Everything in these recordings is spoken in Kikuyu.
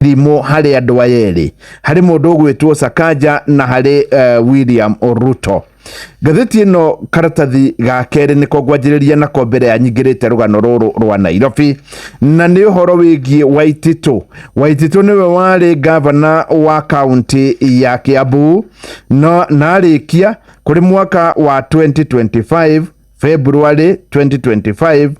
irimũ harĩ andũ aya erĩ harĩ mũndũ ũgwĩtwo Sakaja na harĩ uh, William Ruto ngathĩti ĩno karatathi ga kerĩ nĩko ngwanjĩrĩria nako mbere ya nyingĩrĩte rũgano rũrũ rwa Nairobi na nĩ ũhoro wĩgiĩ Waititũ Waititũ nĩwe warĩ gavana wa kaunti ya Kiambu no narĩkia kũrĩ mwaka wa 2025 February 2025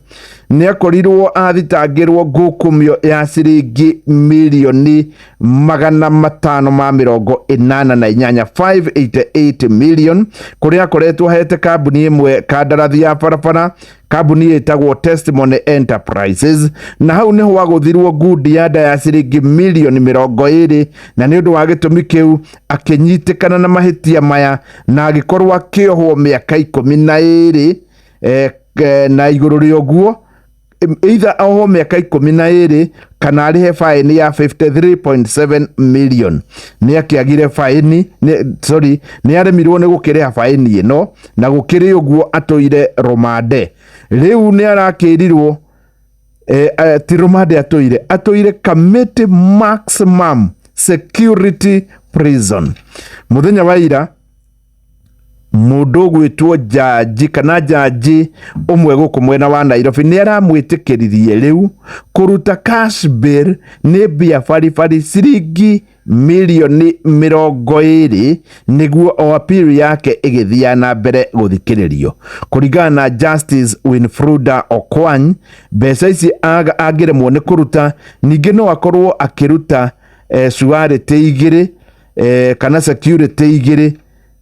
nĩakorirwo athitangĩrwo ngukumio ya ciringi milioni magana matano ma mĩrongo ĩnana na inyanya 588 million kũrĩa akoretwo ahete kambuni ĩmwe kandarathi ya barabara kambuni ĩtagwo Testimony Enterprises na hau nĩho wagũthirwo ngundi ya nda ya ciringi milioni mĩrongo ĩrĩ na nĩ ũndũ wa gĩtũmi kĩu akĩnyitĩkana na mahĩtia maya na agĩkorwo akĩohwo mĩaka ikũmi na ĩrĩ eh, eh, na igũrũ rĩa ũguo em, either ohwo mĩaka ikũmi na ĩrĩ kana arĩhe baĩni ya 53.7 million nĩ akĩagire baĩni nĩ- sorry nĩ aremirwo nĩ gũkĩrĩha baĩni ĩno na gũkĩrĩ ũguo atũire romande rĩu nĩ arakĩrirwo e, a, ti rumande atũire atũire kamĩtĩ maximum security prison mũthenya wa ira mũndũ gwĩtwo njanji kana njanji ũmwe gũkũ mwena wa nairobi nĩ aramwĩtĩkĩririe rĩu kũruta cash bill nĩ mbia baribari ciringi milioni mĩrongo ĩrĩ nĩguo o appeal yake ĩgĩthiaga na mbere gũthikĩrĩrio kũringana na Justice Winfruda Okwany mbeca ici aga- angĩremwo nĩ kũruta ningĩ no akorwo akĩruta eh, surety igĩrĩ eh, kana security igĩrĩ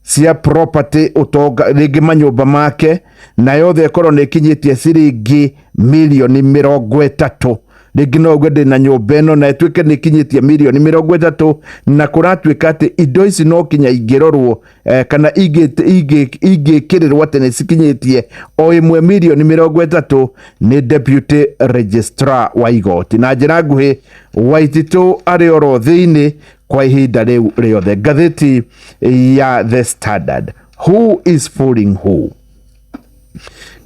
cia property utonga rĩngĩ manyũmba make na yothe ĩkorwo nĩ ĩkinyĩtie ciringi mirioni mĩrongo ĩtatũ rĩngĩ no uge ndĩna nyũmba ĩno na ĩtuĩke nĩ ĩkinyĩtie mirioni mĩrongo ĩtatũ na kũratuĩka atĩ indo ici no kinya ingĩrorwo eh, kana ingĩ- ingĩ- ingĩkĩrĩrwo atĩ nĩ cikinyĩtie o ĩmwe mirioni mĩrongo ĩtatũ nĩ deputy registrar wa igoti na njĩra nguhĩ waititũ arĩ oro thĩinĩ kwa ihinda rĩu rĩothe ngathĩti ya the standard who is fooling who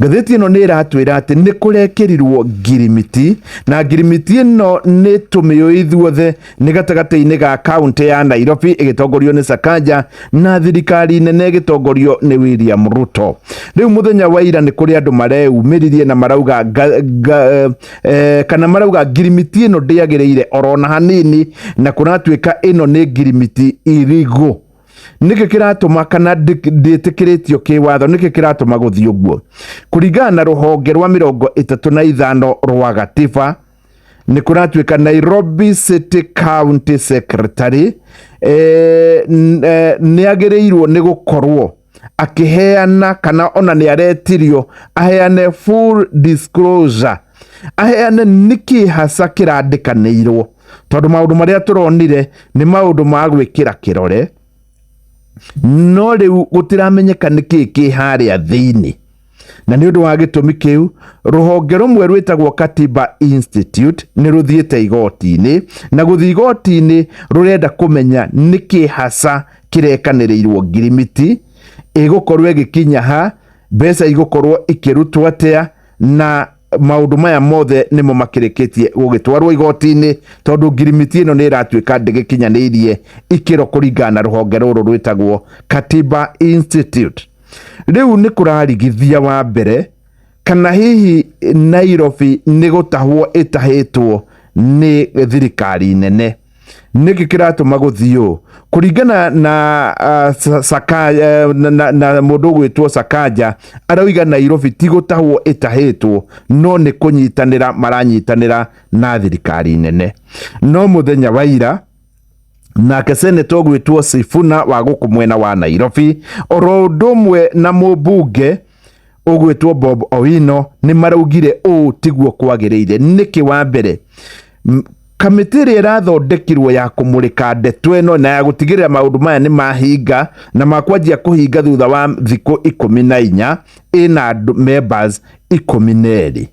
ngathĩti ĩno nĩ ĩratwĩra atĩ nĩ kũrekĩrirwo ngirimiti na ngirimiti ĩno nĩ tũmĩũ ithuothe nĩ gatagatĩ-inĩ ga kaunti ya nairobi ĩgĩtongorio nĩ sakanja na thirikari nene ĩgĩtongorio nĩ william ruto rĩu mũthenya wa ira nĩ kũrĩ andũ mareyumĩririe na marauga nga, nga, eh, kana marauga ngirimiti ĩno ndĩagĩrĩire orona hanini na kũratuĩka ĩno nĩ ngirimiti irigu nĩkĩ kĩratũma kana ndĩtĩkĩrĩtio kĩwatho nĩkĩ kĩratũma gũthiĩ ũguo kũringana na rũhonge rwa mĩrongo ĩtatũ na ithano rwa gatiba nĩ kũratuĩka Nairobi City County Secretary eh, eh, nĩ agĩrĩirwo nĩ gũkorwo akĩheana kana ona nĩ aretirio aheane full disclosure aheane nĩkĩ haca kĩrandĩkanĩirwo tondũ maũndũ marĩa tũronire nĩ maũndũ ma gwĩkĩra kĩrore no rĩu gũtiramenyeka nĩkĩ kĩ harĩa thĩinĩ Na nĩ ũndũ wa gĩtũmi kĩu, rũhonge rũmwe rwĩtagwo Katiba Institute nĩ rũthiĩte igoti-inĩ, na gũthiĩ igoti-inĩ rũrenda kũmenya nĩ kĩ haca kĩrekanĩrĩirwo ngirimiti, ĩgũkorwo ĩgĩkinya ha, mbeca igũkorwo ikĩrutwo atĩa, na maũndũ maya mothe nĩmo makĩrĩkĩtie gũgĩtwarwo igoti-inĩ, tondũ ngirimiti ĩno nĩ ĩratuĩka ndĩgĩkinyanĩirie ikĩro kũringana na rũhonge rũrũ rwĩtagwo Katiba Institute. Rĩu nĩ kũrarigithia wa mbere kana hihi Nairobi nĩ gũtahwo ĩtahĩtwo nĩ thirikari nene nĩkĩ kĩratũma gũthiĩ ũũ kũringana na, uh, saka, uh, na, na, na mũndũ ũgwĩtwo sakanja arauga nairobi ti gũtahwo ĩtahĩtwo no nĩ kũnyitanĩra maranyitanĩra na thirikari nene no mũthenya wa ira nake seneta ũgwĩtwo Sifuna wa gũkũ mwena wa Nairobi oro ũndũ ũmwe na mũmbunge ũgwĩtwo Bob Owino nĩ maraugire ũũ tiguo kwagĩrĩire nĩkĩ wa mbere M- kamĩtĩ ĩrĩa ĩrathondekirwo ya kũmũrĩka ndeto ĩno na ya gũtigĩrĩra maũndũ maya nĩ mahinga na makwanjia kũhinga thutha wa thikũ ikũmi na inya ĩna andũ members ikũmi na erĩ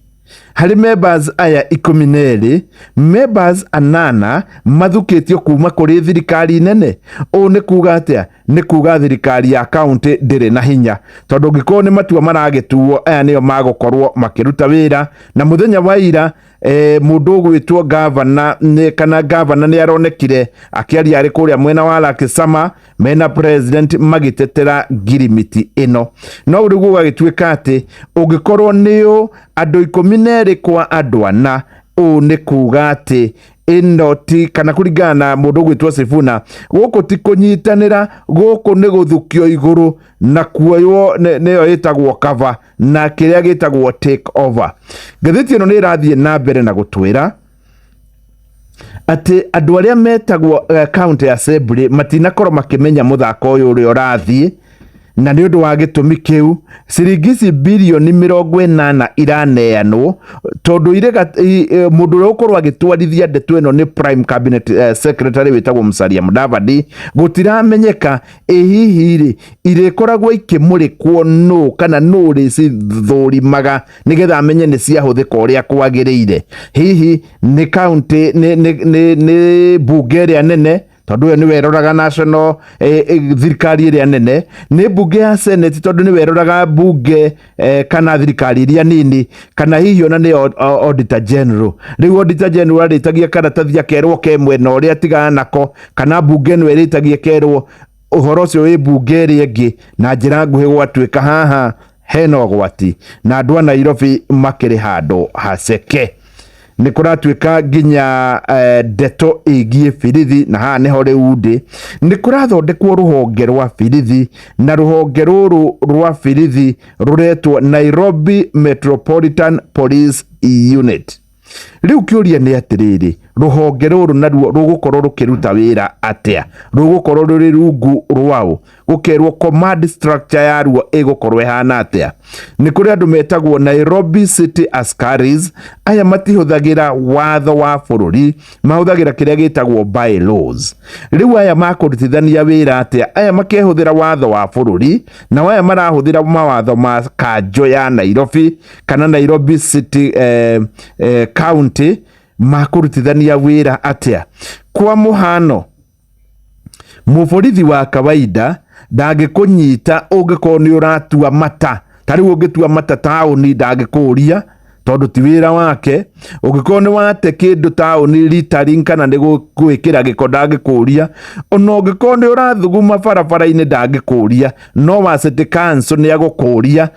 Harĩ members aya ikũmi na erĩ, members anana mathukĩtio kuma kũrĩ thirikari nene. Ũũ nĩ kuga atĩa? Nĩ kuga thirikari ya kaunti ndĩrĩ na hinya, tondũ ũngĩkorwo nĩ matua maragĩtuo, aya nĩo magũkorwo makĩruta wĩra. Na mũthenya wa ira e, mũndũ ũgwĩtwo gavana nĩ, kana gavana nĩ aronekire akĩaria arĩ kũrĩa mwena wa Lakisama, mena president magitetera ngirimiti ino no riu gugagituika ati ungikorwo ni u andu ikumi na eri kwa andu ana uu ni kuga ati ino ti kana kuringana na mundu gwitwo Sifuna guku ti kunyitanira guku ni guthukio iguru na kuoywo ni- niyo yitagwo cover na kiria gitagwo take over ngathiti ino ni irathie na mbere na gutwira atĩ andũ arĩa metagwo eh, county assembly matinakorwo makĩmenya mũthako ũyũ ũrĩa ũrathiĩ na nĩ ũndũ wa gĩtũmi kĩu ciringi ici birioni mĩrongo ĩnana iraneanwo tondũ irĩ gat- i- e, mũndũ ũrĩa ũkorwo agĩtwarithia ndeto ĩno nĩ prime cabinet eh, secretary wĩtagwo musalia mudavadi gũtiramenyeka ĩ hihi rĩ irĩkoragwo ikĩmũrĩkwo nũ kana nũ rĩcithũrimaga nĩgetha amenye nĩ ciahũthĩka ũrĩa kwagĩrĩire hihi nĩ kaunti nĩ- nĩ- nĩ- nĩ mbunge ĩrĩa nene tondũ ũyũ nĩwe eroraga national eh, eh, thirikari ĩrĩa nene nĩ mbunge ya senate tondũ nĩwe eroraga mbunge eh, kana thirikari iria nini kana hihi ona nĩ au- au- auditor general rĩu auditor general arĩtagia karatathi akerwo ke mwena ũrĩa atigana nako kana mbunge ĩno ĩrĩtagia kerwo ũhoro ũcio wĩ mbunge ĩrĩa ĩngĩ na njĩra nguhĩ gwatuĩka haha hena ũgwati na andũ a Nairobi makĩrĩ handũ haceke nĩ kũratuĩka nginya eh, ndeto ĩgiĩ birithi na haha nĩho rĩu ndĩ nĩ kũrathondekwo rũhonge rwa birithi na rũhonge rũrũ rwa birithi rũretwo Nairobi Metropolitan Police Unit Rĩu kĩũria nĩ atĩrĩrĩ, rũhonge rũrũ naruo rũgũkorwo rũkĩruta wĩra atĩa? Rũgũkorwo rũrĩ rungu rwaũ? Gũkerwo command structure yaruo ĩgũkorwo ĩhana atĩa? Nĩ kũrĩ andũ metagwo Nairobi City Askaris, aya matihũthagĩra watho wa bũrũri, mahũthagĩra kĩrĩa gĩtagwo by laws. Rĩu aya makũrutithania wĩra atĩa? Aya makehũthĩra watho wa bũrũri, nao aya marahũthĩra mawatho ma kanjũ ya Nairobi, kana nairobi city eh, eh, county makũrutithania wĩra atĩa kwa mũhano mũborithi wa kawaida ndangĩkũnyita ũngĩkorwo nĩ ũratua mata ta rĩu ũngĩtua mata taũni ndangĩkũria tondũ ti wĩra wake ũngĩkorwo nĩ wate kĩndũ taũni ritaring kana nĩ gũ- gwĩkĩra gĩko ndangĩkũria ona ũngĩkorwo nĩ ũrathuguma barabara-inĩ ndangĩkũria no wa city council nĩ agũkũria